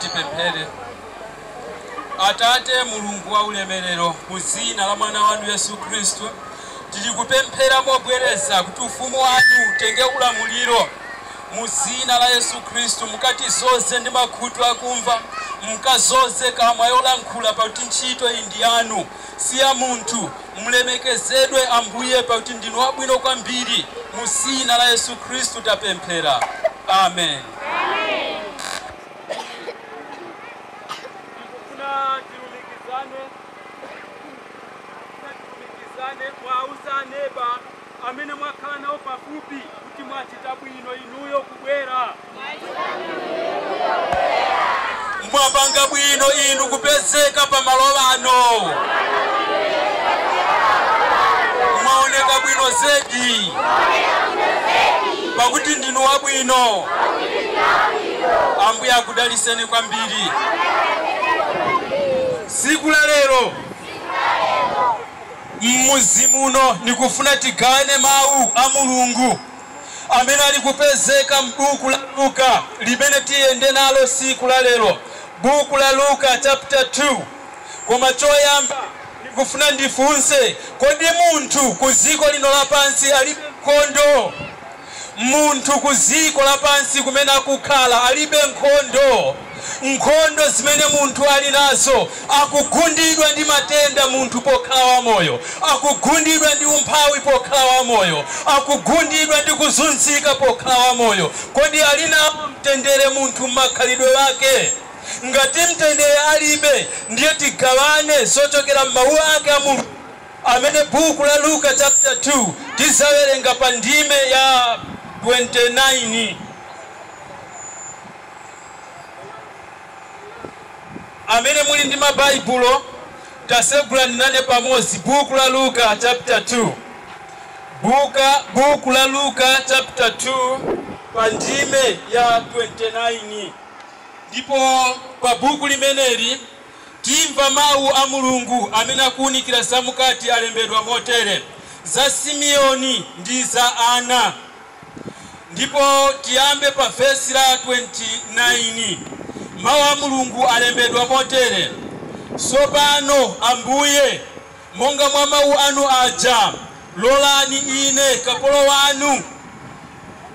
tipemphere atate mulungu wa ulemerero mu dzina la mwana wanu yesu khristu tili kupemphera mobwereza kuti ufumu wanu utenge ulamuliro mu dzina la yesu khristu mukatizoze ndi makutu akumva mukazoze kamwa yolankhula pakuti ntchito iyi ndi yanu si ya munthu. Mulemekezedwe, Ambuye, pakuti ndinu wabwino kwambiri. Mu Zina la Yesu Khristu tapemphera. Amen. Ndikufuna tilumikizane, ndikufuna tilumikizane, muwauze neba amene mwakhala nawo pafupi kuti mwachita bwino inuyo kubwera. Mwapanga bwino inu kupezeka pa malo ano. Mwaoneka bwino zedi pakuti ndinu wabwino. Ambuye akudaliseni kwambiri. Siku la lero M'mudzi muno nikufuna tigawane mau a Mulungu amene ali kupezeka m'buku la Luka limene tiyende nalo siku la lero. Buku la Luka chaputa 2. Koma choyamba nikufuna ndifunse, kodi munthu ku ziko lino lapansi alibe nkondo? Munthu ku dziko lapansi kumene akukhala alibe nkhondo. Nkhondo zimene munthu ali nazo, akugundidwa ndi matenda munthu pokhala wamoyo, akugundidwa ndi umphawi pokhala wamoyo, akugundidwa ndi kuzunzika pokhala wamoyo. Kodi ali nao mtendere munthu m'makhalidwe ake? Ngati mtendere alibe, ndiye tigawane zochokera m'Mawu ake a Mulungu. amene buku la Luka chapter 2 tizawerenga pa ndime ya 29 amene muli ndi ma baibulo tasegulani nane pamodzi buku la Luka chapter 2 buka buku la Luka chapter 2 pa ndime ya 29 ndipo pa buku limeneli Timva mawu a Mulungu amene akuunikira za m'kati alembedwa motere, za Simeoni ndi za Anna. Ndipo tiyambe pa vesi la 29. Mawu a Mulungu alembedwa motere, Tsopano, Ambuye, Monga mwa mawu anu aja, lolani ine kapolo wanu,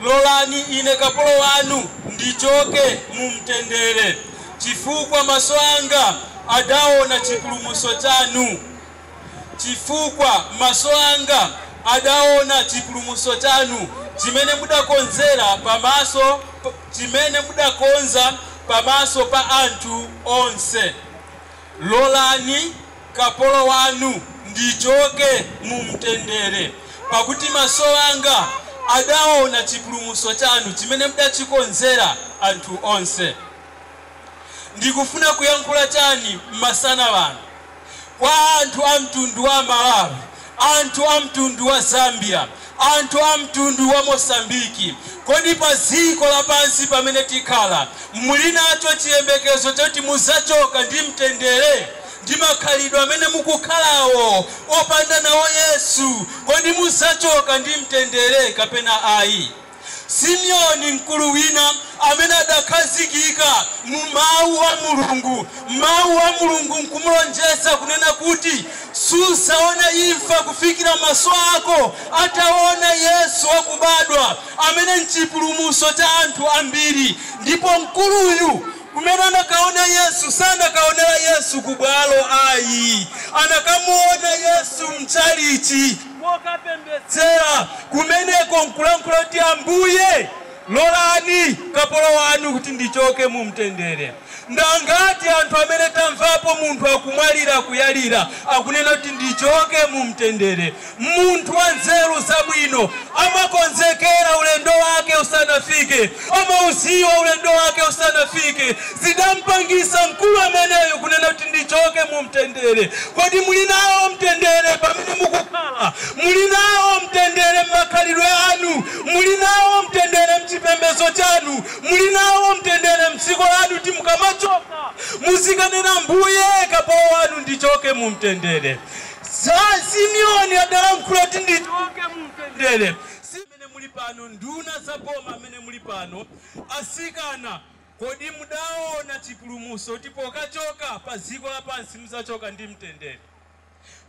lolani ine kapolo wanu ndichoke mu mtendere, chifukwa maso anga adaona chipulumutso chanu, chifukwa maso anga adaona chipulumutso chanu, chimene mudakonzera pamaso, chimene mudakonza pamaso pa anthu onse. Lolani kapolo wanu ndichoke mu mtendere, pakuti maso anga adaona chipulumutso chanu, chimene mudachikonzera anthu onse. Ndikufuna kuyankhula chani masana ano kwa anthu a mtundu wa Malawi anthu a mtundu wa Zambia, anthu a mtundu wa Mosambiki, kodi pa dziko lapansi pamene tikhala muli nacho chiyembekezo choti mudzachoka ndi mtendere? Ndi makhalidwe amene mukukhalawo opanda nawo Yesu, kodi mudzachoka ndi mtendere kapena ayi? Simeoni, mkulu wina amene adakhazikika mu Mawu a Mulungu, Mawu a Mulungu nkumulonjeza kunena kuti, Sudzaona imfa kufikira maso ako ataona Yesu wakubadwa, amene nchipulumutso cha anthu ambiri. Ndipo mkuluyu, kumene anakaona Yesu, sanakaonera Yesu kubwalo ayi. Anakamuona Yesu mtchalitchi. kokapembedzera kumeneko, nkulankhula kuti, Ambuye, lolani kapolo wanu kuti ndichoke mu mtendere. Ndi angati anthu amene tamvapo munthu akumwalira, akuyalira, akunena kuti, Ndichoke mu mtendere? Munthu wanzeru zabwino amakonzekera ulendo wake usanafike, amaudziwa ulendo wake usanafike zidampangisa mkulu ameneyu kunena kuti ndichoke mu mtendere. Kodi muli nawo mtendere pamene mukukhala? Muli nawo mtendere m'makhalidwe anu? Muli nawo mtendere m'chipembezo chanu? Muli nawo mtendere m'dziko lanu kuti mukamachoka muzikanena Mbuye kapolo wanu ndichoke mu mtendere? Simeoni adalankhula kuti ndichoke mu mtendere. amene muli pano, nduna za boma amene muli pano, asikana kodi mudaona chipulumuso kuti pokachoka pa dziko lapansi mudzachoka ndi mtendere?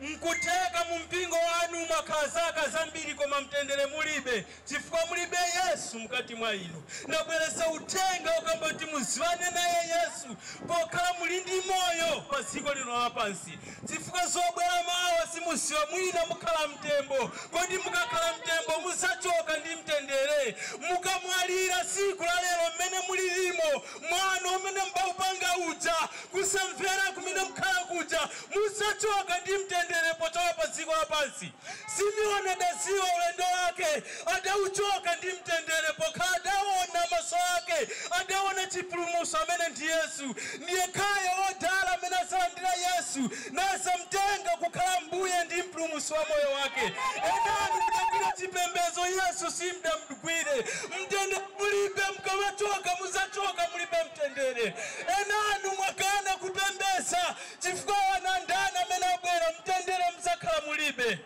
Nkutheka mu mpingo wanu mwakhala zaka zambiri koma mtendere mulibe chifukwa mulibe Yesu mkati mwa inu. Ndabweretsa uthenga wokamba kuti muziwane naye Yesu pokhala muli ndi moyo pa dziko lino lapansi. Chifukwa zobwera mawa simuziwa mwina mukhala mtembo kodi mukakhala mtembo muzachoka ndi mtendere? Mukamwalira siku la lero mmene mulilimo mwano umene mbaupanga uja kusamvera kumene mukhala kuja muzachoka ndi mtendere pochoka pa ziko lapansi? Simeoni adadziwa ulendo wake, adauchoka ndi mtendere, pokhala adaona maso ake adaona chipulumutso, amene ndi Yesu. Ndi yekhayo wodala amene adzalandira Yesu, nadzamtenga kukhala Mbuye ndi Mpulumutsi wa moyo wake. Enanu mudagwira chipembedzo, Yesu simudamugwire. Mtendere mulibe, mkamachoka mudzachoka mulibe mtendere. Enanu mwakana kupembedza. Chifukwa wanandani amene abwera mtendere muzakhala mulibe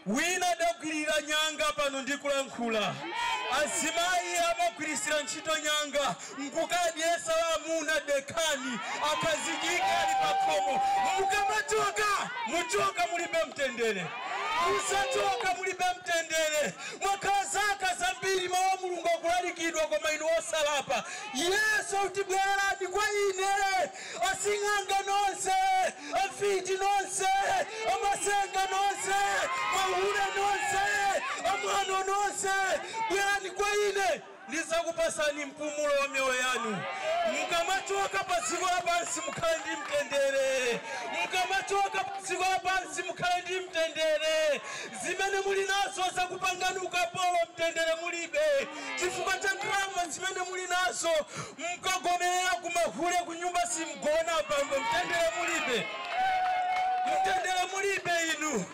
wina adagwirira nyanga pano ndikulankhula azimayi amagwirisira ntchito nyanga nkukadyesa amuna dekhani akhazikike ali pakhomo mukamachoka muchoka mulibe mtendere muzachoka mulibe mtendere mwakhala zaka zambiri mawu a mulungu akulalikidwa koma inu osalapa yesu akuti bwerani kwa ine asing'anga nonse amfiti nonse amatsenga nonse mahule nonse amwano nonse bwerani kwa ine ndizakupasani mpumulo wa miyoyo yanu mukamachoka pa dziko lapansi mukhale ndi mtendere mukamachoka pa dziko lapansi mukhale ndi mtendere zimene muli nazo zakupangani ukapolo mtendere mulibe chifukwa cha ndalama zimene muli nazo Mkagomerera kumahule kunyumba simgona abambo mtendere mulibe mtendere mulibe inu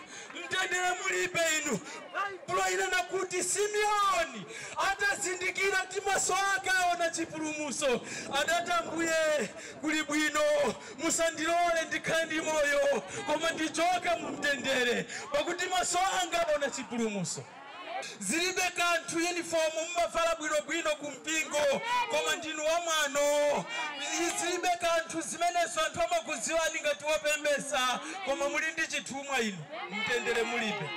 mtendere mulibe inu baibulo inena kuti simeoni atazindikira ndi maso ake aona chipulumuso adati ambuye kuli bwino musandilole ndikhale ndi moyo koma ndichoke mumtendere pakuti maso anga aona chipulumuso Zilibe kanthu uniform mumavala bwino bwino ku mpingo koma ndinu wa mwano. Zilibe kanthu zimenezo anthu amakudziwani ngati wopembeza koma muli ndi chithumwa inu. Mtendere mulibe.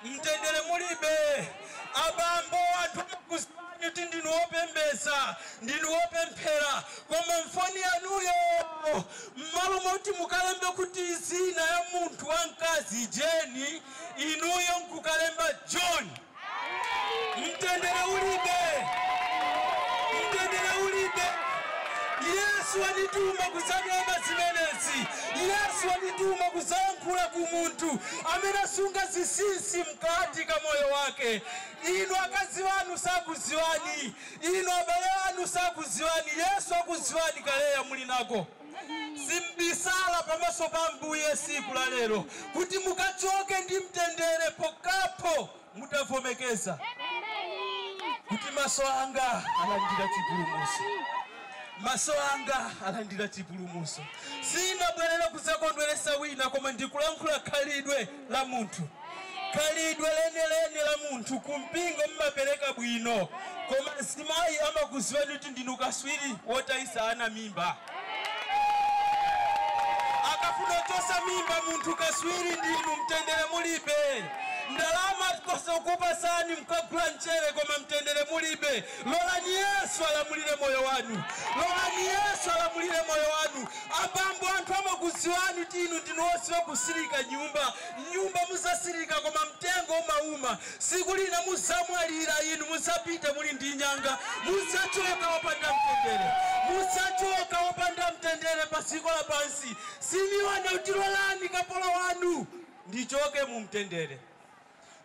Mtendere mulibe. Abambo anthu amakudziwani kuti ndinu wopembeza, ndinu wopemphera koma mfoni yanuyo mmalo moti mukalembe kuti dzina ya munthu wa mkazi Jane inuyo nkukalemba John. Mtendere ulibe, mtendere ulibe. Yesu wandituma kudzakamba zimenezi. Yesu wandituma kudzayankhula ku munthu amene asunga zinsinsi mkati ka moyo wake. Inu akazi anu sakudziwani, inu abale anu sakudziwani. Yesu akudziwani kaleya muli nako. Simbisala pamaso pa Ambuye siku la lero kuti mukachoke ndi mtendere pochokapo mutavomereza kuti maso anga alandira chipulumuso maso anga alandira chipulumuso sinabwerere kuzakondweresa wina koma ndikulankhula khalidwe la munthu khalidwe lenileni la munthu kumpingo mmapereka bwino koma azimayi amakuziwani kuti ndinu kaswiri wotayisa ana mimba akafuna kuchosa mimba munthu kaswiri ndinu mtendere mulibe ndalama posakupasani mkagula mchere koma mtendere mulibe Lolani Yesu alamulire moyo wanu. Lolani Yesu alamulire moyo wanu. Abambo, anthu amakudziwani kuti inu ndinu odziwa kusilika nyumba. M'nyumba muzasilika koma mtengo umawuma. Tsiku lina muzamwalira inu mudzapita muli ndi nyanga. Mudzachoka opanda mtendere. Mudzachoka opanda mtendere pa dziko lapansi. Simioni akuti lolani kapolo wanu ndichoke mu mtendere.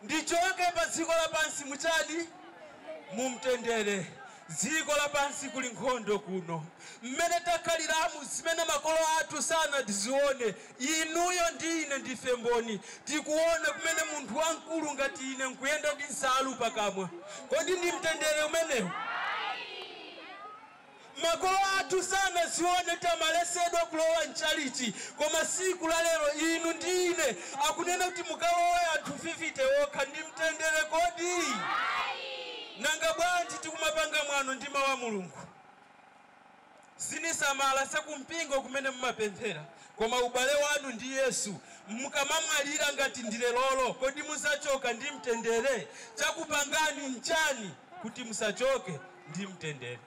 Ndichoke pa dziko lapansi mu chani? Mu mtendere. Dziko lapansi kuli nkhondo kuno. Mmene takhaliramu, zimene makolo athu sanadzione, inuyo ndi ine ndife mboni. Tikuona kumene munthu wamkulu ngati ine nkuyenda ndi nsalu pakamwa. Kodi ndi mtendere umenewu? Ayi! Makolo athu sanazione kumalesedwa kulowa mchalichi koma siku la lero inu ndi ine akunena kuti mukalowe anthu fifite okha ndi mtendere kodi? Ayi! Nanga bwanji tikumapanga mwano ndi mau a Mulungu? Sinisamala za ku mpingo kumene mumapemphera koma ubale wanu ndi Yesu mkamamwalira ngati ndi lerolo kodi muzachoka ndi mtendere? Chakupangani nchani kuti musachoke? ndi mtendere.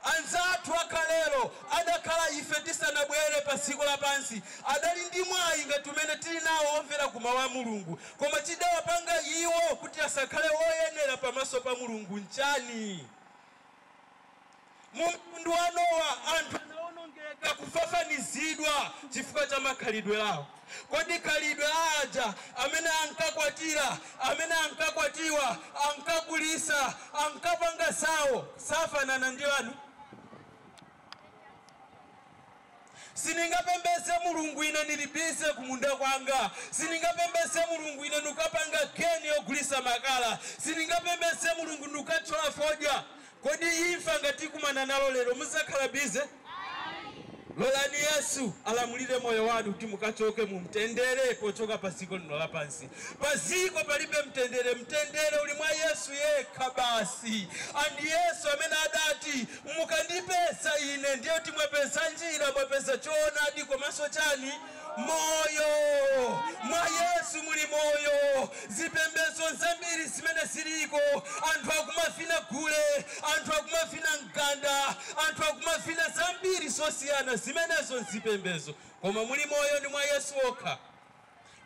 Anzathu akalelo adakhala ife tisanabwere pa dziko lapansi adali ndi mwayi ngati umene tili nawo omvera ku Mau a Mulungu. Koma chidawapanga iwo kuti asakhale oyenera pamaso pa Mulungu nchani? Mu mtundu wa Nowa, anthu anawonongeka, kufafanizidwa, chifukwa cha makhalidwe awo. Kodi khalidwe la aja amene ankakwatira, amene ankakwatiwa, ankagulisa, ankapanga zawo, safanana ndi lanu? Siningapembeze mulungu ine nili busy kumunda kwanga, siningapembeze mulungu ine nikapanga geni yogulisa makala, siningapembeze mulungu nikathyola fodya. Kodi imfa ngati ikumana nanu lero muzakhala busy? Lolani yesu alamulire moyo wanu kuti mukachoke mumtendere pochoka paziko lino lapansi. Paziko palibe mtendere, mtendere uli mwa yesu yekha basi ndi yesu amene adati. Mukandipeza ine ndiye kuti mwapeza njira, mwapeza choonadi komanso chani? Moyo. Mwa Yesu muli moyo. Zipembezo nzambiri zimene ziliko. Anthu akumavina gule, anthu akumavina mganda, anthu akumavina zambiri zosiyana, zimenezo nzipembezo. Koma muli moyo ndi mwa Yesu okha.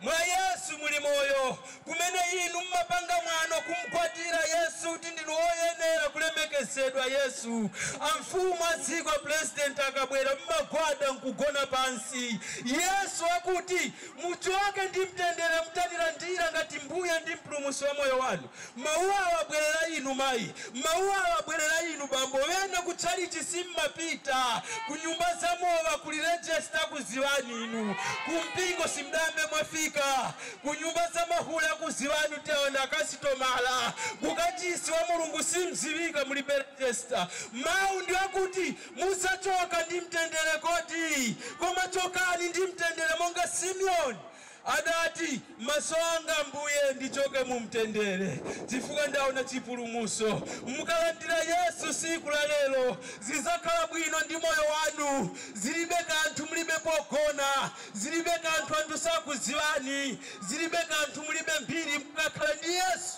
Mwa Yesu muli Moyo, kumene inu mumapanga mwano kumgwadira Yesu kuti ndinu oyenera kulemekezedwa. Yesu, Amfumu a dziko, a Pulezidenti akabwera, mumagwada nkugona pansi. Yesu akuti, Muchoke ndi mtendere, mutandilandira ngati Mbuye ndi Mpulumutsi wa moyo wanu. Mawu awa abwerera inu mayi, mawu awa abwerera inu bambo, ena ku tchalitchi sim'mapita, ku nyumba za mowa, kuli register akuziwani inu, ku mpingo sim'dayambe mwafika, ku nyumba za mahule akuziwani kuti awa ndi akasitomala, ku kachisi wa Mulungu sim'ziwika mulibe register. Mawu ndi akuti muzachoka ndi mtendere kodi, koma chokani ndi mtendere monga Simeoni Adati, Maso anga, Ambuye, ndichoke mu mtendere chifukwa ndaona chipulumuso. Mukalandira Yesu siku la lero, zizakhala bwino ndi moyo wanu. Zilibe kanthu mulibe pogona, zilibe kanthu anthu sakuziwani, zilibe kanthu mulibe mbiri, mukakhala ndi Yesu.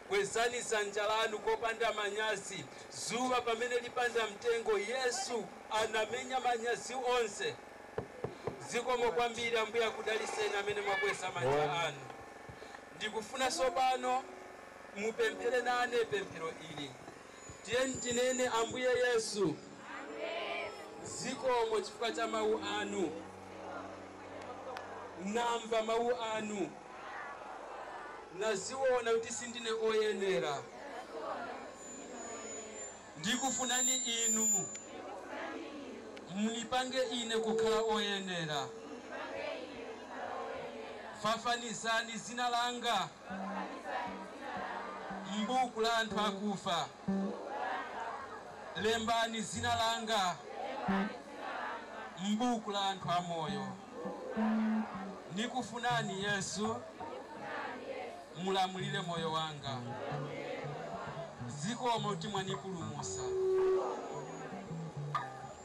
Kwezani dzanja lanu kopanda manyazi. Dzuwa pamene lipanda mtengo, Yesu anamenya manyazi onse. Zikomo kwambiri. Ambuye akudalitseni amene mwakweza manja anu. Ndikufuna tsopano mupemphere nane pemphero ili. Tiyeni tinene, Ambuye Yesu, zikomo chifukwa cha Mawu Anu. Namva Mawu Anu. Naziwona kuti sindine oyenera. Ndikufunani Inu. Munipange ine kukhala oyenera. Fafanizani zina langa. M'buku la anthu akufa lembani dzina langa m'buku la anthu amoyo. Nikufunani Yesu mulamulire moyo wanga. Zikomo kuti mwanipulumusa.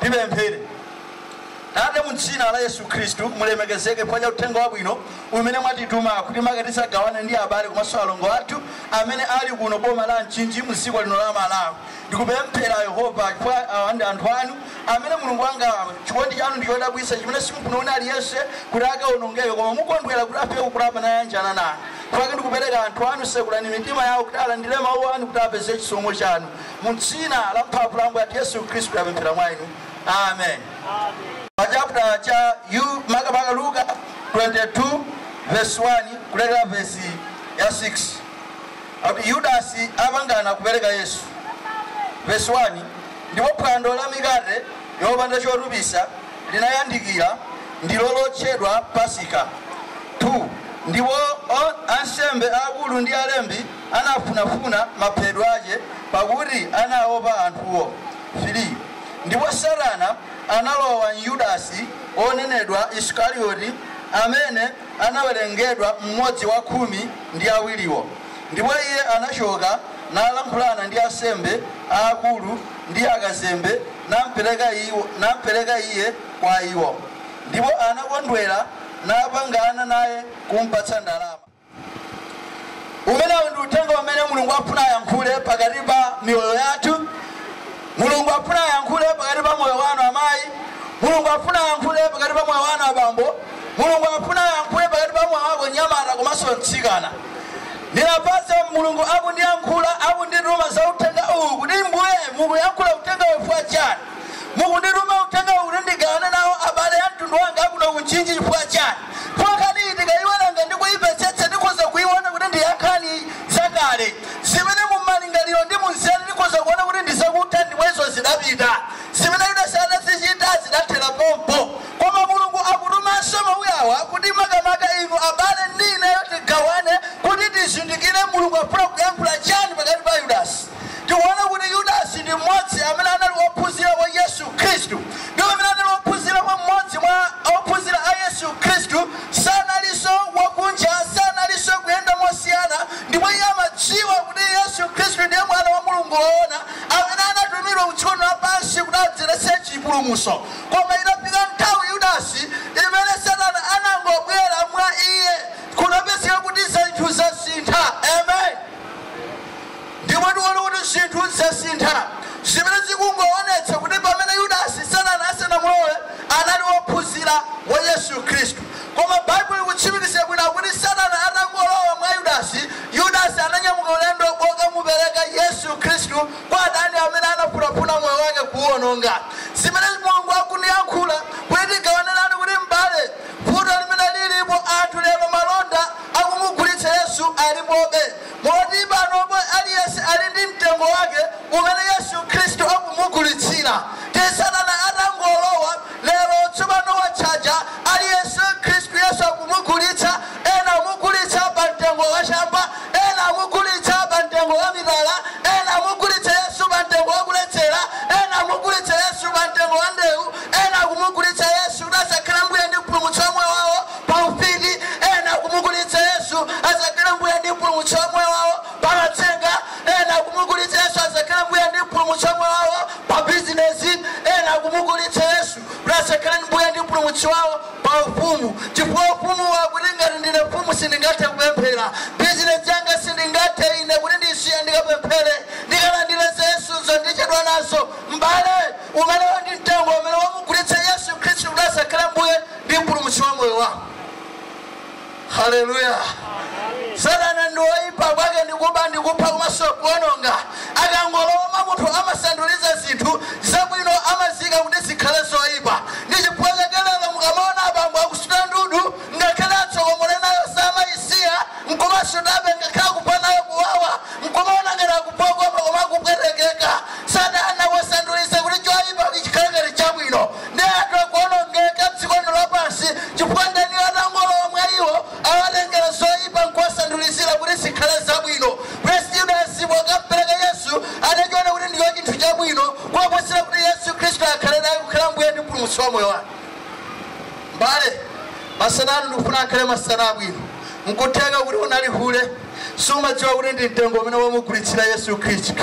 tipemphere tate mu dzina la yesu khristu mulemekezeke chifukwa cha uthenga wabwino umene mwatituma kuti make tizagawane ndi abale komanso alongo athu amene ali kuno boma la mchinji mu dziko lino la malawi ndikupemphera yehova chifukwa awa ndi anthu anu Amen Mulungu wanga, chikondi chanu ndi chodabwitsa chimene simufuna wina aliyense kuti akaonongeke koma mukondwera kuti afike kukulapa nayanjana nanu. Chifukwa ndikupereka anthu anu, sekulani mitima yawo kuti alandire mawu anu kuti apeze chisomo chanu. Mu dzina la mphamvu la Ambuye athu Yesu Khristu tapemphera mwa inu. Amen. Pa chapter cha makamaka Luka 22 verse 1 kulekera verse ya 6 akuti Yudasi apangana kupereka Yesu. Verse 1 Ndipo phwando la mikate yopanda chotupitsa linayandikira, ndilo lotchedwa Pasika, 2 ndipo o- ansembe aakulu ndi alembi anafunafuna maphedwe ace, pakuti anaopa anthuwo, 3 ndipo Satana analowa m'Yudasi wonenedwa Isikarioti, amene anawerengedwa mmodzi wa khumi ndi awiriwo. Ndipo iye anachoka nalankhulana ndi ansembe aakulu ndi akazembe, nampereka iwo, nampereka iye kwa iwo. Ndipo anakondwera napangana naye kumpatsa ndalama. Umenewu ndi uthenga umene Mulungu afuna ayankhule pakati pa miyoyo yathu. Mulungu afuna ayankhule pakati pa moyo wanu amayi. Mulungu afuna ayankhule pakati pa moyo wanu abambo. Mulungu afuna ayankhule pakati pa moyo wako nyamata komanso mtsikana. Ndinafunsa Mulungu akundiyankhula akundituma za uthenga uwu kuti Mbuye mukuyankhula uthenga uwu chifukwa chani? Mukundituma uthenga uwu kuti ndigawane nawo abale a mtundu wanga akuno ku Mchinji chifukwa chani? Chifukwa nkhani iyi ndikaiwerenga ndi kuimvetsetsa ndikhoza kuiona kuti ndi ya nkhani zakale zimene mu malingaliro ndi mu nzeru ndikhoza kuona kuti ndi zakutha ndipo izo zidapita. Zimene Yudasi adazichita zidathera pompo. Koma Mulungu akutumanso mawuawa kuti makamaka inu abale ndi ineyo tigawane kuti tizindikire Mulungu akufuna kuyankhula chani pakati pa Yudasi. Tikuona kuti Yudasi ndi mmodzi amene anali wophunzira wa Yesu Khristu ndipo pamene anali wophunzira wa mmodzi mwa ophunzira a Yesu Khristu sanalinso wakunja sanalinso kuyenda mosiyana ndipo iye amadziwa kuti Yesu Khristu ndiye mwana wa Mulungu woona amene anatumidwa ku dziko lapansi kuti adzeretse chipulumuso Koma inafika nthawi, Yudasi, imene Satana anangobwera mwa iye, kunapezeka kuti zinthu zasintha. Amen. Ndipo tikuona kuti zinthu zasintha, zimene zikungoonetsa kuti pamene Yudasi, Satana asanamulowe, anali wophunzira wa Yesu Khristu. Koma Baibulo likutsimikizira bwino akuti Satana atangolowa mwa Yudasi, Yudasi ananyamuka ulendo wokamupereka Yesu Khristu kwa adani amene anafunafuna moyo wake kuuwononga. Zimene Mulungu akundiyankhula kuti tigawane nanu kuti m'bale, vuto limene lilipo anthu lero malonda akumugulitsa Yesu alipobe. Moti panopo aliyense ali ndi mtengo wake umene Yesu Khristu akumugulitsira. Ndiye satana atangolowa Lero tsopano watchaja aliyense mkhristu yesu akumugulitsa ena amugulitsa pa mtengo wa chamba ena amugulitsa pa mtengo wa mitala ena amugulitsa yesu pa mtengo wa kuledzera ena amugulitsa yesu pa mtengo wa ndewu ena akumugulitsa yesu kuti asakhale mbuye ndi mpulumutsi wa moyo wawo pa ufiti ena akumugulitsa yesu asakhale mbuye ndi mpulumutsi wa moyo wawo pa matsenga, ena akumugulitsa Yesu asakhale mbuye ndi mpulumutsi wa moyo wawo, pa bizinezi, ena akumugulitsa Yesu kuti asakhale mbuye ndi mpulumutsi wawo, pa ufumu, chifukwa ufumuwo akuti ngati ndine mfumu sindingathe kupemphera, bizinezi yanga sindingathe ine kuti ndisiye ndikapemphere, ndikalandire za Yesuzo ndichedwa nazo, m'bale, umenewo ndi mtengo umene wamugulitsa Yesu Khristu kuti asakhale mbuye ndi mpulumutsi wa moyo wawo. Haleluya! Satana ndi woipa, kwake ndi kuba ndi kupha komanso kuwononga. Akangolowa mwa munthu amasanduliza zinthu zabwino, amaziika kuti zikhale zoipa. Ndi chifukwa chake lero mukamaona abambo akusuta ndudu, ngakhale atsokomole nayo samaisiya, n'kumasutabe ngakhale akumva nayo kuwawa, n'kumaona ngati akumva kukoma koma akupwetekeka. Satana wasanduliza kuti choipa chikhale ngati chabwino. ndiye anthu akuonongeka dziko lino lapansi chifukwa mdaniyo atangolowa mwa iwo awatengera zoyipa nkuwasandulizira kuti zikhale zabwino kwa yudasi pokampereka yesu adachiona kuti ndiyo chinthu chabwino kuposera kuti yesu khristu akhale naye kukhala mbuye ndi mpulumutsi wa moyo wake mbale masana ano ndikufuna akhale masana abwino nkutheka kuti unali hule sumadziwa kuti ndi mtengo umene wamugulitsira yesu khristu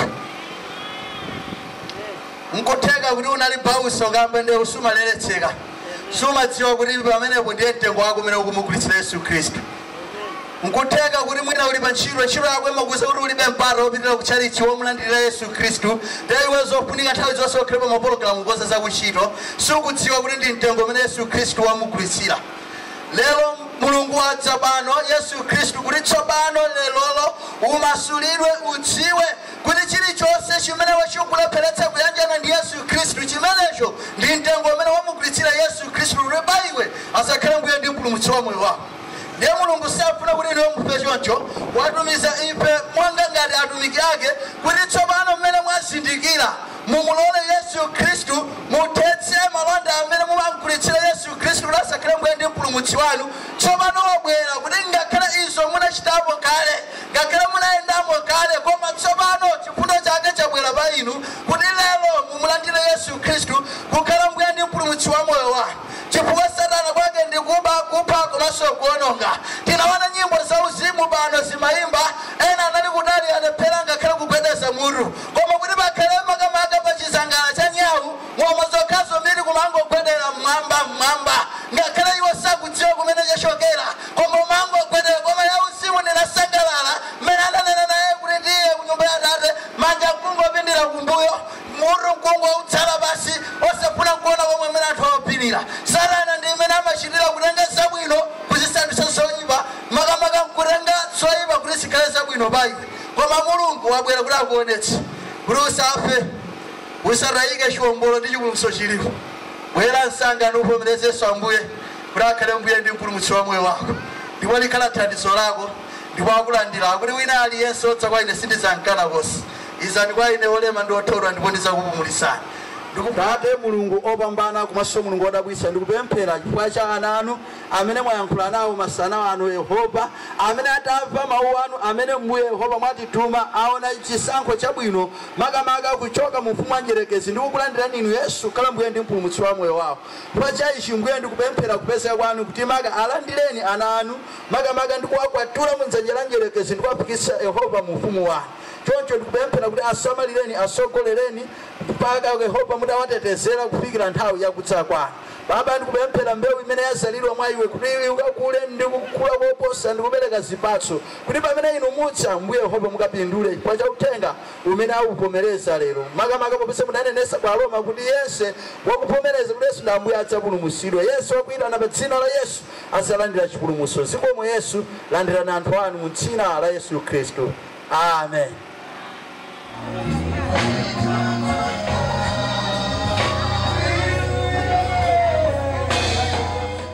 nkutheka kuti unali pausakamba nde sumaleretseka sumadziwa kuti pamenepo ndiye mtengo wako umene ukumugulitsira yesu khristu nkutheka kuti mwina uli pa ntchito ntchito yako imakuuza kuti ulibe mpata wopitira ku chalichi womulandirira yesu khristu ndiye iwe zofunika nthawi zonse ukhale pa mapologalamu kukonza za kuntchito sukudziwa kuti ndi mtengo umene yesu khristu wamugulitsira lero mulungu wadza pano yesu khristu kuti tsopano lerolo umasulidwe udziwe kuti chilichonse chimene iwe chikukulepheretsa kuyanjana ndi Yesu Khristu, chimenecho ndi mtengo umene wamugulitsira Yesu Khristu kuti pa iwe asakhale Mbuye ndi Mpulumutsi wa moyo wako. Ndiye Mulungu safuna kuti inuyo mufe choncho, watumiza ife monga ngati atumiki ake kuti tsopano mmene mwazindikira mumulole Yesu Khristu muthetse malonda amene mumamgulitsira Yesu Khristu kuti asakhale Mbuye ndi Mpulumutsi wanu. Tsopano wabwera kuti ngakhale izo munachitapo kale Ngakhale munayendamo kale, koma tsopano chifundo chake chabwera pa inu kuti lero mumulandire Yesu Khristu kukhala Mbuye ndi Mpulumutsi wa moyo wanu. Chifukwa Satana kwake ndi kuba, kupha komanso kuononga. Tinaona nyimbo za uzimu pano zimayimba, ena anali kutali alephera ngakhale kugwedeza mutu. Koma kuti pakhale makamaka pa chizangala cha nyau, ng'oma zokhazo m'biri kumangogwedera m'mwamba, m'mwamba. Ngakhale iwo sakudziwa kumene chachokera. Koma umangogwedera. Koma ya usiku ndinasangalala mmene ananena naye kuti tiye ku nyumba ya Atate, manja nkungopindira kumbuyo, mutu nkungoutsala pansi, osafuna nkuona komwe mmene anthu awapinira. Satana ndi mmene amachitira, kutenga zabwino kuzisandutsa zoipa, makamaka nkutenga zoipa kuti zikhale zabwino pa iwe. Koma Mulungu wabwera kuti akuonetse kuti usafe, usatayike chiombolo ndi chipulumutso chilipo. Bwera msanga nuvomereze Yesu Ambuye. kuti akhale mbuye ndi mpulumutsi wa moyo wako ndipo likhala thandizo lako ndipo akulandira akuti wina aliyense odza kwa ine sindizamkana konse izani kwa ine olema ndi othodwa ndipo ndizakupumulitsani Atate mulungu opambana komanso mulungu odabwitsa ndikupemphera chifukwa cha ana anu amene mwayankhula nawo masana ano yehova amene atamva mawu anu amene mbuye yehova mwatituma aona chisankho chabwino makamaka kuchoka mu ufumu wa njerekezi ndikukulandirani inu yesu kukhala mbuye ndi mpulumutsi wa moyo wawo Chifukwa cha ichi, Mbuye, ndikupemphera kupezeka kwanu kuti maka alandireni ana anu, makamaka ndi kuwakwatula mu dzanja la mdyerekezi ndi kuwafikitsa, Yehova, mu ufumu wanu. Choncho ndikupemphera kuti asamalireni, atsogolereni, mpaka, Yehova, mutawatetezera kufikira nthawi ya kudza kwanu. Baba, ndikupemphera mbewu imene yadzalidwa mwa iwo kuti ikakule ndi kukula koposa ndi kubereka zipatso, kuti pamene inu mudza, Mbuye Yehova, mukapindule chifukwa cha uthenga. umene akuvomereza lero, makamaka popeza munanenesa kwa Aroma kuti yense wakuvomereza kuti Yesu ndi Ambuye adzapulumutsidwa. Yense wakuyitana pa dzina la Yesu adzalandira chipulumutso. Zikomo Yesu, landirani anthu anu mu dzina la Yesu Khristu. Amen.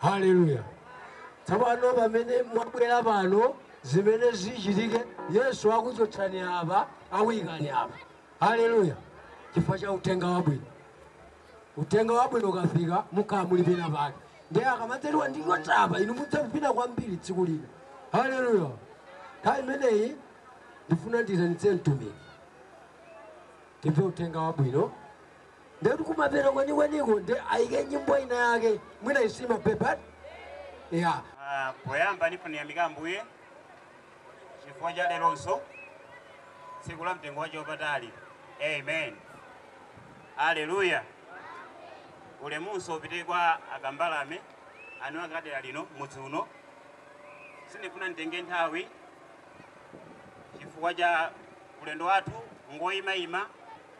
Haleluya! Tsopano pamene mwabwera pano, zimene zichitike, Yesu akuchotsani apa, akuyikani apa. Haleluya! chifukwa cha uthenga wabwino. Uthenga wabwino ukafika, mukhala muli pena pake. Ndiye akamadzaliwa ndi chotapa, inu mudzavina kwambiri tsiku lina. Haleluya! Nthawi imeneyi ndifuna ndiyitanitse mtumiki, timve uthenga wabwino. ndekuti kumapeto kwenikweniko nde ayike nyimbo ina yake mwina isima pepat ya Ah, poyamba ndifuna kuyamika ambuye chifukwa cha leronso tsiku la mtengo wake wapatali amen aleluya ulemu onse upite kwa akambalame anu akadera lino mudzi uno sindifuna nditenge nthawi chifukwa cha ulendo wathu ngoyimayima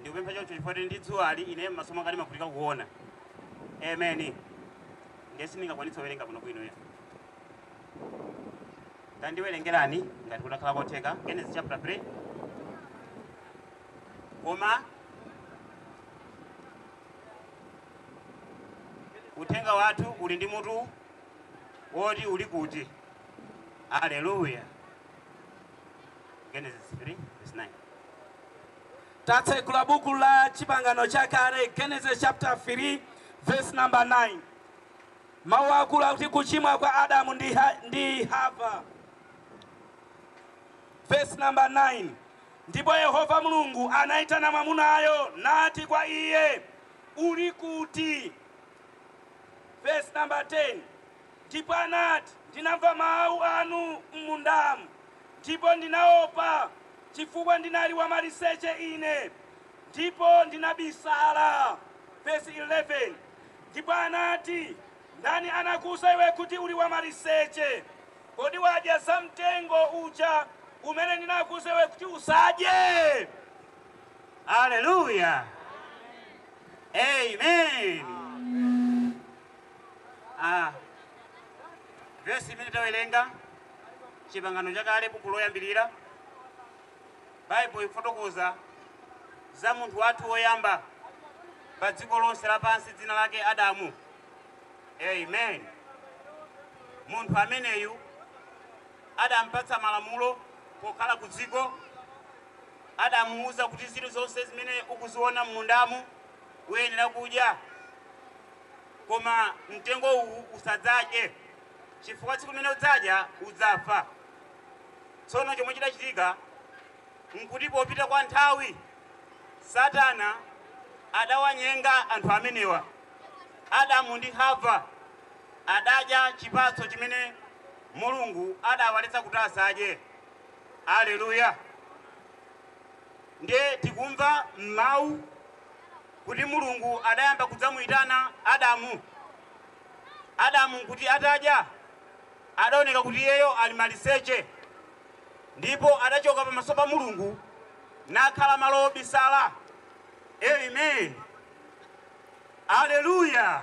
Ndikupempha choncho chifukwa tili ndi dzuwali ine m'maso mwanga ndimavutika kuona. Amen. Ndiye sindingakwanitse kuwerenga bwinobwino. Tandiwerengerani ngati kutakhala kotheka Genesis chapter 3. Koma uthenga wathu uli ndi mutu woti uli kuti. Haleluya. Genesis 3 verse 9. Tatsegula buku la chipangano chakale Genesis chapter 3 verse number 9. Mawu akulu akuti kuchimwa kwa Adamu ndi Hava. Verse number 9. Ndipo Yehova Mulungu anaitana mwamunayo nati kwa iye, uli kuti? Verse number 10. Ndipo anati, Ndinamva mawu anu m'mundamu, ndipo ndinaopa, chifukwa ndinali wamaliseche ine, ndipo ndinabisala. Vesi 11, Ndipo anati, Ndani anakuuza iwe kuti uli wamaliseche? Kodi wadya za mtengo uja umene ndinakuuza iwe kuti usadye? Aleluya! Amen. a vesi imene tawerenga chipangano chakale buku loyambirira baibulo ikufotokoza za munthu wathu woyamba pa dziko lonse lapansi dzina lake adamu amen munthu ameneyu adampatsa malamulo pokhala ku dziko adamuwuza kuti zinthu zonse zimene ukuziona m'mundamu uyenera kudya koma mtengo uwu usadzadye, chifukwa tsiku limene udzadya udzafa. Tsono chomwe chidachitika n'kuti popita kwa nthawi, Satana adawanyenga anthu amenewa. Adamu ndi Hava adadya chipatso chimene Mulungu adawaletsa kuti asadye. Alleluya! Ndiye tikumva m'mawu. kuti Mulungu adayamba kudzamuitana Adamu. Adamu nkuti atadya, adaoneka kuti iyeyo ali maliseche, ndipo adachoka pamaso pa Mulungu nakhala malo obisala. Amen. Aleluya.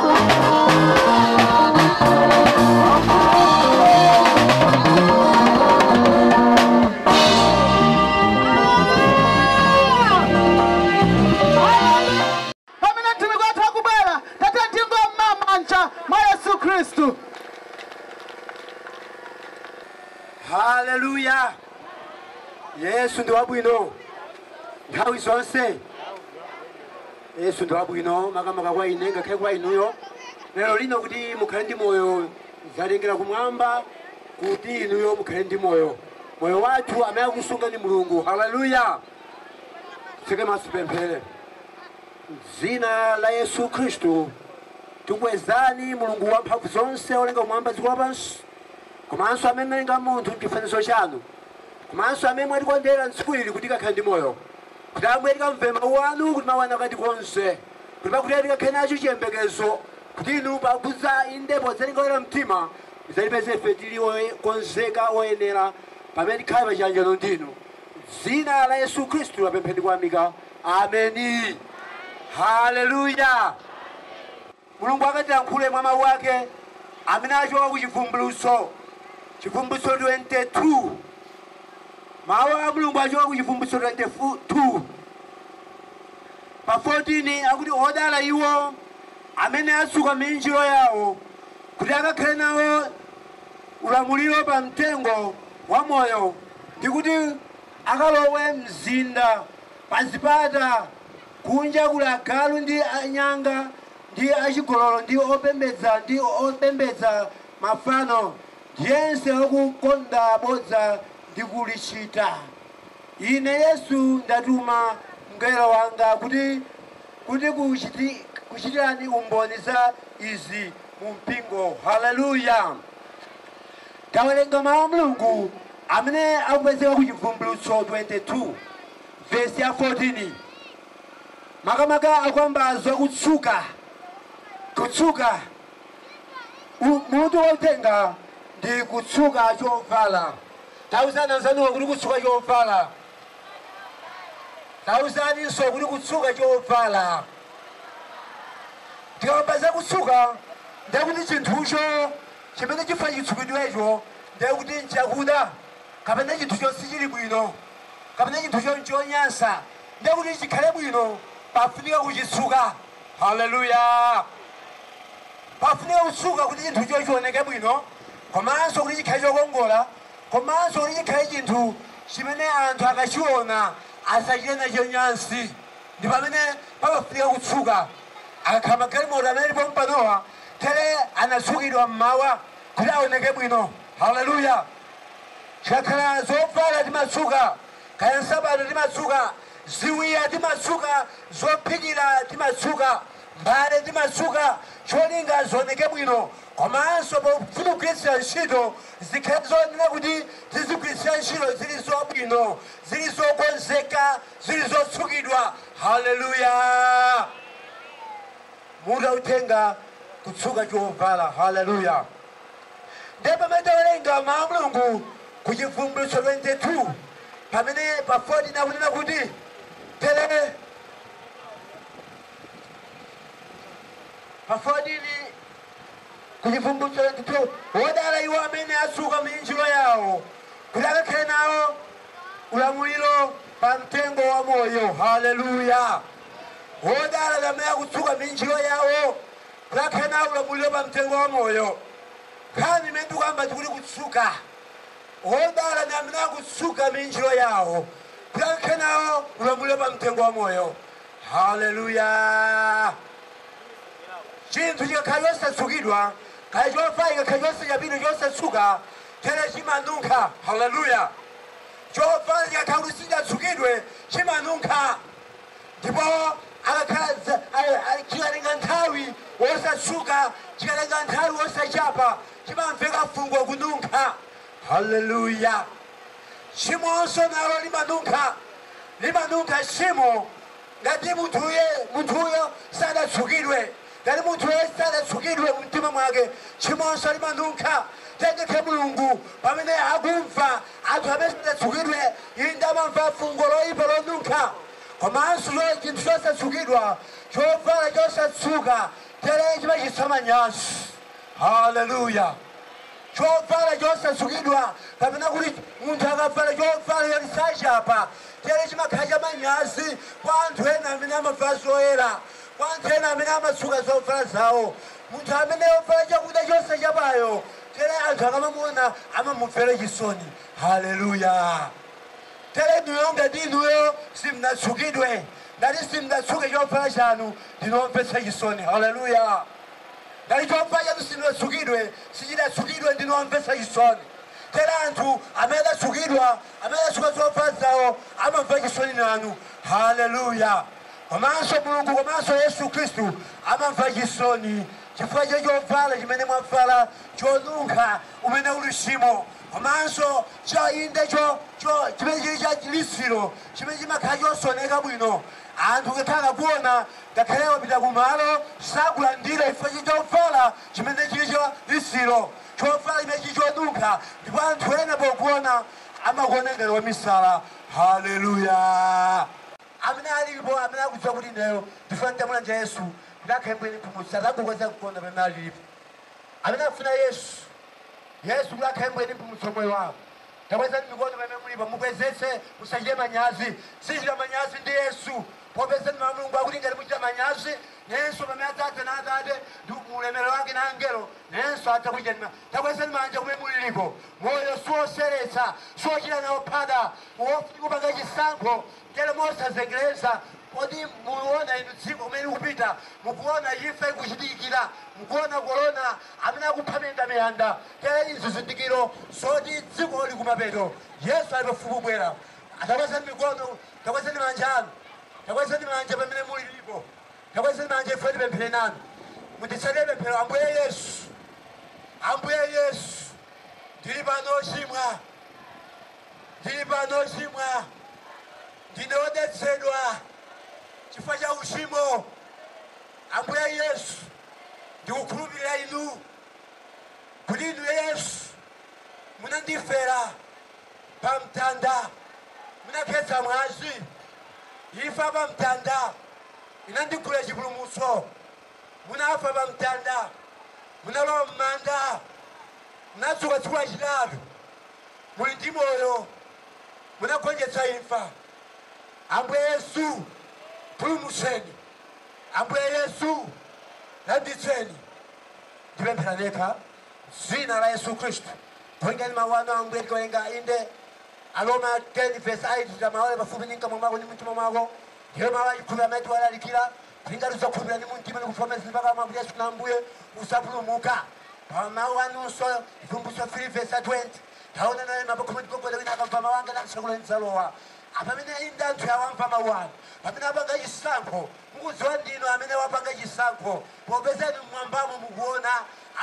pamene mtumiki wathu akubwera tatiyeni tingoomba manja mwa yesu khristu haleluya yesu ndi wabwino nthawi zonse Yesu ndi wabwino makamaka kwa ine ngakhale kwa inuyo lero lino kuti mukhale ndi moyo zatengera kumwamba kuti inuyo mukhale ndi moyo moyo wathu amene akusunga ndi mulungu haleluya titseke maso tipemphere m'dzina la yesu khristu tikukwezani mulungu wamphamvu zonse olenga kumwamba dziko lapansi komanso amene munalenga munthu mchifanizo chanu komanso amene mwatikondera mtsiku ili kuti tikakhale ndi moyo Kuti Ambuye tikamve Mawu Anu, kuti Mawu Anu akatikonze, kuti pakutero tikakhale nacho chiyembekezo kuti Inu pakudza, inde podzatenga oyera mtima, mudzatipeze ife tili okonzeka, oyenera, pamene tikhale pa chiyanjano ndi Inu. M'dzina la Yesu Khristu tapempha ndi kuyamika. Ameni. Haleluya. Mulungu akatilankhule mwa Mawu ake amene achoka ku Chivumbulutso, Chivumbulutso 22. Mawu a Mulungu achoka ku Chivumbulutso 22. Pa 14 akuti, Odala iwo amene atsuka miinjiro yawo kuti akakhale nawo ulamuliro pa Mtengo wa Moyo ndi kuti akalowe m'mzinda pa zipata. Kunja kuli agalu ndi anyanga, ndi achigololo, ndi opembedza, ndi opembedza mafano, ndi yense wakukonda bodza ndi kulichita. Ine Yesu ndatuma mngelo wanga kuti kuchitirani umboni za izi mu Mpingo. Haleluya! Tawerenga Mawu a Mulungu amene akupezeka ku Chivumbulutso 22. Vesi ya 14 makamaka akukamba za kutsuka, kutsuka mutu wa uthenga ndi kutsuka chovala. Tauzani anzanuwo kuti kutsuka chovala, tauzaninso kuti kutsuka chovala. Tikakamba za kutsuka ndiye kuti chinthucho chamene chifuna chitsukidwecho ndiye kuti nchakuda kapena chinthucho sichili bwino kapena chinthucho nchonyansa, ndiye kuti chikhale bwino, pafunika kuchitsuka. Haleluya! Pafunika kutsuka kuti chinthucho chioneke bwino, komanso kuti chikhale chokongola, komanso kuti chikhale chinthu chimene anthu akachiona asachite nacho nyansi. Ndi pamene pamafunika kutsuka. Akakhala magalimoto amene ali pompanowa, tere anatsukidwa m'mawa kuti aoneke bwino. Haleluya! Zikakhala zovala timatsuka, kaya nsapato timatsuka, ziwiya timatsuka, zophikira timatsuka, mbale timatsuka cholinga zioneke bwino komanso pozigwiritsa ntchito zikhale zoyenera kuti tizigwiritsa ntchito zili zabwino, zili zokonzeka, zili zotsukidwa. Haleluya! Mutu wa uthenga, Kutsuka chovala. Haleluya! Ndiye pamene tawerenga Mau a Mulungu ku Chibvumbulutso 22, pamene pa 14 akunena kuti tere, pa 14 ku Chibvumbulutso 22, wodala iwo amene atsuka miinjiro yawo kuti akakhale nawo ulamuliro pa mtengo wa moyo. Haleluya! Wodala ndi amene akutsuka miinjiro yawo Akakhale nawo ulamuliro pa mtengo wa moyo. Nkhani imene ndikukamba ndikuti kutsuka. Wodala ndi amene akutsuka miinjiro yawo kuti akakhale nawo ulamuliro pa mtengo wa moyo. Haleluya! Chinthu chikakhala chosatsukidwa, kaya chovala chikakhala chosachapa, chosatsuka, tere chimanunkha. Haleluya! Chovala chikakhala kuti sichinatsukidwe chimanunkha. ndipo akakhala dza- a- a- chikatenga nthawi wosatsuka chikatenga nthawi wosachapa chimamveka fungo kununkha haleluya tchimonso nalo limanunkha limanunkha tchimo ngati munthuye munthuyo sadatsukidwe ngati munthuyo sadatsukidwe mumtima mwake tchimonso limanunkha tere mulungu pamene akumva Anthu amene sanatsukidwe inde amamva fungo loipa lonunkha. Komanso chinthu chosatsukidwa, chovala chosatsuka, tere chimachititsa manyazi. Haleluya! Chovala chosatsukidwa, kapena kuti munthu akavala chovala choti sachapa, tere chimakhala chamanyazi kwa anthu ena amene amavala zoyera, kwa anthu ena amene amatsuka zovala zawo. Munthu amene wavala chakuda chosachapayo tere anthu akamamuona amamumvera chisoni haleluya tere inuyo ngati inuyo simudatsukidwe ngati simudatsuke chovala chanu ndinu omvetsa chisoni haleluya ngati chovala chanu simudatsukidwe sichidatsukidwe ndinu omvetsa chisoni tere anthu amene adatsukidwa amene adatsuka zovala zawo amamva chisoni nanu haleluya komanso mulungu komanso yesu khristu amamva chisoni chifukwa cha chovala chimene mwavala chonunkha, chimene chili uchimo, komanso cha inde cho cho chimene chili cha litsiro chimene chimakhala chosaoneka bwino anthu ngakhale akakuona ngakhale wapita ku malo sakulandira chifukwa cha chovala chimene chili cha litsiro chovala chimene chili chonunkha ndipo anthu ena pokuona amakuona ngati wamisala haleluya Amene alilipo amene akudziwa kuti ineyo ndifuna nditamulandira Yesu kuti akhale Mbuye ndi Mpulumutsi atangokweza mkono pamene alilipo. Amene akufuna Yesu, Yesu kuti akhale Mbuye ndi Mpulumutsi wa moyo wao. Takwezani mikono pamene mulipo mukwezetse musachite manyazi. Musachite manyazi ndi Yesu popeza mau a Mulungu akuti ngati muchita manyazi nayenso pamene adzadza na Atate ndi mu ulemerero wake na angelo nayenso adzakuchitani ma. Takwezani manja kumene muliliko. Moyo siwoseretsa, siwochita nawo phada. Ndiwofunika kupanga chisankho Tero mosazengereza, kodi mukuliwona inu dziko kumene likupita? Mukuwona imfa ikuchitikira? Mukuwona korona amene akupha miyandamiyanda? Tero izi ndi zizindikiro zoti dziko liri kumapeto. Yesu ali pafupi kubwera. Takwezani mikono, takwezani manja anu. Takwezani manja pamene muliripo. Takwezani manja ife tipemphere nanu. Munditsatire pemphero, Ambuye Yesu, Ambuye Yesu, ndiri pano ochimwa. Ndili pano ochimwa, ndine odetsedwa chifukwa cha uchimo. Ambuye Yesu, ndikukhulupirira Inu kuti Inu Yesu munandifera pa mtanda, munakhetsa mwazi. Imfa pa mtanda inandigulira chipulumutso. Munafa pa mtanda, munalowa m'manda, munadzuka tsiku lachitatu. muli ndi moyo, munagonjetsa imfa. Ambuye Yesu, ndipulumutseni. Ambuye Yesu, ndilanditseni. Ndipemphera ndithu m'dzina la Yesu Khristu. Popeza mawu a Ambuye tikawerenga inde. Aroma 10 verse 8 ati mawu ali pafupi ndi mkamwa mwako ndi mumtima mwako. Ndiyo mawu achikhulupiriro amene tiwalalikira. Tingati usakhulupira ni mumtima ni kuvomereza ndi pakamwa kuti Yesu na Ambuye, uzapulumuka. Pa mau anunso, Chibvumbulutso 3 vesi 20, Taona naima pakhomo ndigogoda wina akamva mau anga namtsekula ndidzalowa. Apa amenewa ndi anthu awa amva mau anu, pamene apanga chisankho, mukudziwa ndinu amene wapanga chisankho, popeza inu m'mwambamo mukuona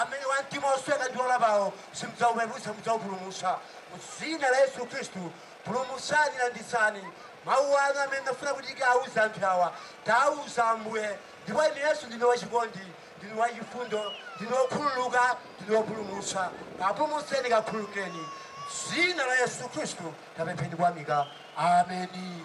amene wa mtima osweka ndi olapa, simudzaupeputsa, mudzaupulumutsa. Mu dzina la Yesu Khristu, Pulumutsani, landitsani, Mawu anu amene munafuna kuti tikawauze anthu awa, tawauza, Ambuye. Ndipo Inu, Yesu, Ndinu wachikondi, Ndinu wachifundo, Ndinu wokhululuka, Ndinu Wopulumutsa. Kapulumutseni, kakhululukireni. M'dzina la Yesu Khristu tapempha ndi kuyamika. Ameni.